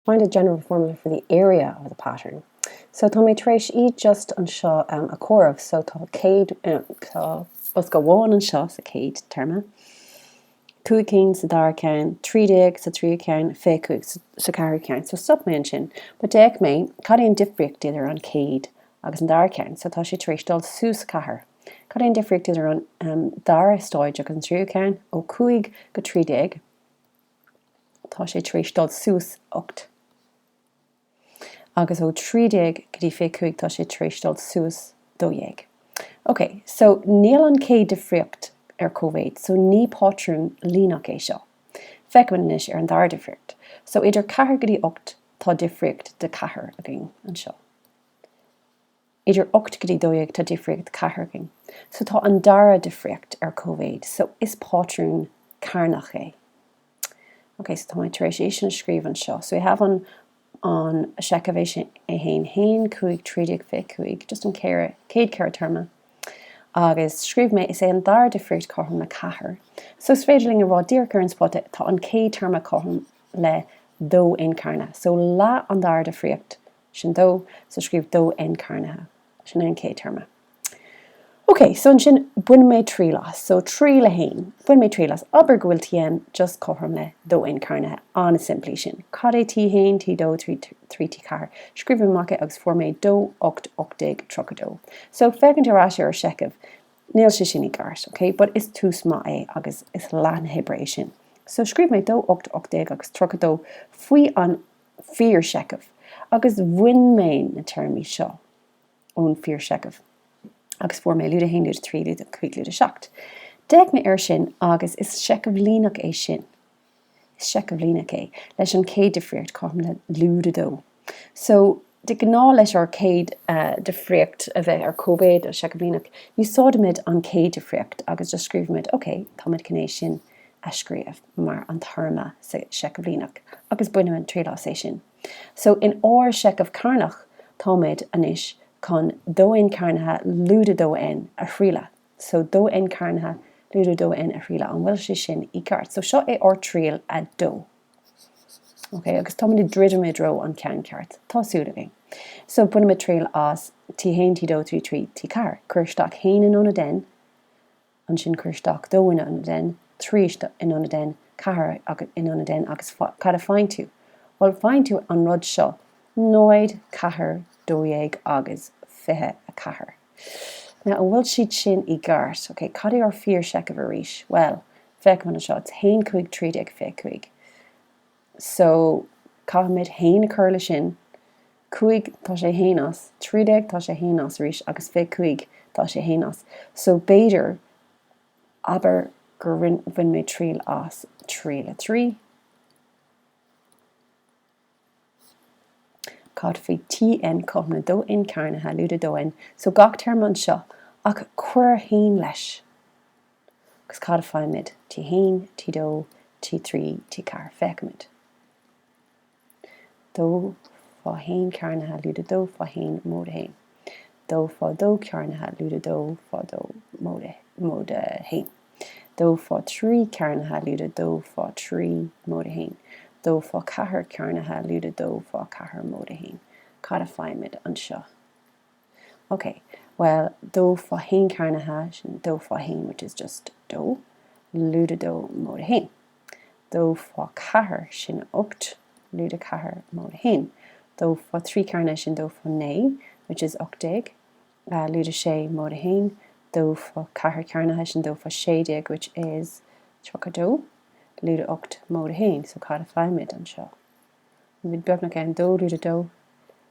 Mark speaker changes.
Speaker 1: Find a general formula for the area of the pattern So tá mé tar éis iad just anseo a chomhaireamh so tá céad tá bosca amháin anseo sa chéad téarma, cúig cinn sa dara ceann, trí déag sa tríú ceann, fiche cúig sa ceathrú ceann so stop mé ansin but d'fhéach mé cad é an difríocht idir an chéad agus an dara ceann so tá sé tar éis dul suas ceathair. Cad é an difríocht idir an dara stáid agus an tríú ceann? Ó cúig go trí déag. tá sé tar éis dul suas ocht agus ó trí déag go dtí fiche cúig tá sé tar éis dul suas dó dhéag. Ok, so níl an chéad difríocht ar cóimhéid, so ní pátrún líneach é seo. Feicfimid anois ar an dara difríocht. So idir ceathair go dtí ocht tá difríocht de cheathair againn anseo. idir ocht go dtí dó dhéag, tá difríocht ceathair againn so tá an dara difríocht ar cóimhéid so is pátrún cearnach é. Ok, so tá mé tar éis é sin a scríobh anseo. So we have an an seicheamh é sin a haon haon cúig trí déag fiche cúig just an céad céad ceithre téarma agus scríobh mé is é an dara difríocht cothrom le ceathair. So is féidir linn a rá díreach ar an spota tá an chéad téarma cothrom le dó N cearnaithe so leath an dara difríocht Sin dó so scríobh dó N. carnaithe. Sin é an chéad téarma. Ok, so ansin bain mé triail as. So triail a haon, bain mé triail as. Abair go bhfuil Tn just cothrom le dó N cearnaithe. An-simplí sin. Cad é T1, T2, T3, T4? Scríobh mé amach é agus fuair mé dó ocht, ocht déag, tríocha dó. So féachaint ar ais ar an seicheamh, níl sé sin i gceart, ok? But is tús maith é agus is leath na hoibre é sin. So scríobh mé dó ocht, ocht déag agus tríocha dó faoi an fíorsheicheamh, agus bhain mé na téarmaí seo ón bhfíorsheicheamh agus fuair mé lúide 1, lúide 3, lúide 5, lúide 7. D'fhéach mé air sin agus is seicheamh líneach é sin. Is seicheamh líneach é, leis an chéad difríocht, cothrom le lúide 2. So, de ghnáth leis ár gcéad difríocht a bheith ar cóimhéid le seicheamh líneach, úsáidimid an chéad difríocht agus just scríobhaimid, OK, táimid chun é sin a scríobh mar an téarma sa seicheamh líneach, agus bainimid triail as é sin so in ár seicheamh cearnach, táimid anois chun dó N cearnaithe lúide dó N a thrialadh, so dó N cearnaithe lúide dó N a thrialadh, an bhfuil sé sin i gceart? So seo é ár triail a dó. Okay, agus táimid ag druidim i dtreo an ceann ceart, tá súil againn. So bainimid triail as T haon, T dó, T trí, T ceathair, cuir isteach haon in ionad N, ansin cuir isteach dó in ionad N, trí isteach in ionad N, ceathair in ionad N agus cad a faigheann tú? Bhuel, faigheann tú an rud seo, náid, ceathair, dó dhéag agus fiche a ceathair. Now, an bhfuil siad sin i gceart? Ok, cad é ár bhfíorsheicheamh arís? Bhuel, féachaimid anseo, it's haon cúig trí déag fiche cúig. so caithfimid a haon a chur leis sin, cúig tá sé féin as, trí déag tá sé a haon as arís agus fiche cúig tá sé a haon as. So b'fhéidir, abair gur rinne, bhain mé triail as tríd le. Cad faoi TN cothrom le 2N cearnaithe lúide 2N, so gach téarma anseo ach cuir a haon leis. Agus cad a fhaighimid? T1, T2, T3, T4. Féachaimid. Dó fá haon cearnaithe lúide dó fá haon móide haon. Dó fá dó cearnaithe lúide dó fá dó móide haon. Dó fá trí cearnaithe lúide dó fá trí móide haon. Dó fá ceathair cearnaithe lúide dó fá ceathair móide haon. Cad a fhaighimid anseo? OK, bhuel, dó fá haon cearnaithe, sin dó fá haon which is just dó, lúide dó móide haon. Dó fá ceathair, sin ocht, lúide ceathair móide haon. Dó fá thrí cearnaithe, sin dó fá naoi which is ocht déag, lúide sé móide haon. Dó fá ceathair cearnaithe, sin dó fá sé déag which is tríocha dó, lúide ocht móide haon. So cad a fhaighimid anseo? Táimid beagnach ann, dó lúide dó,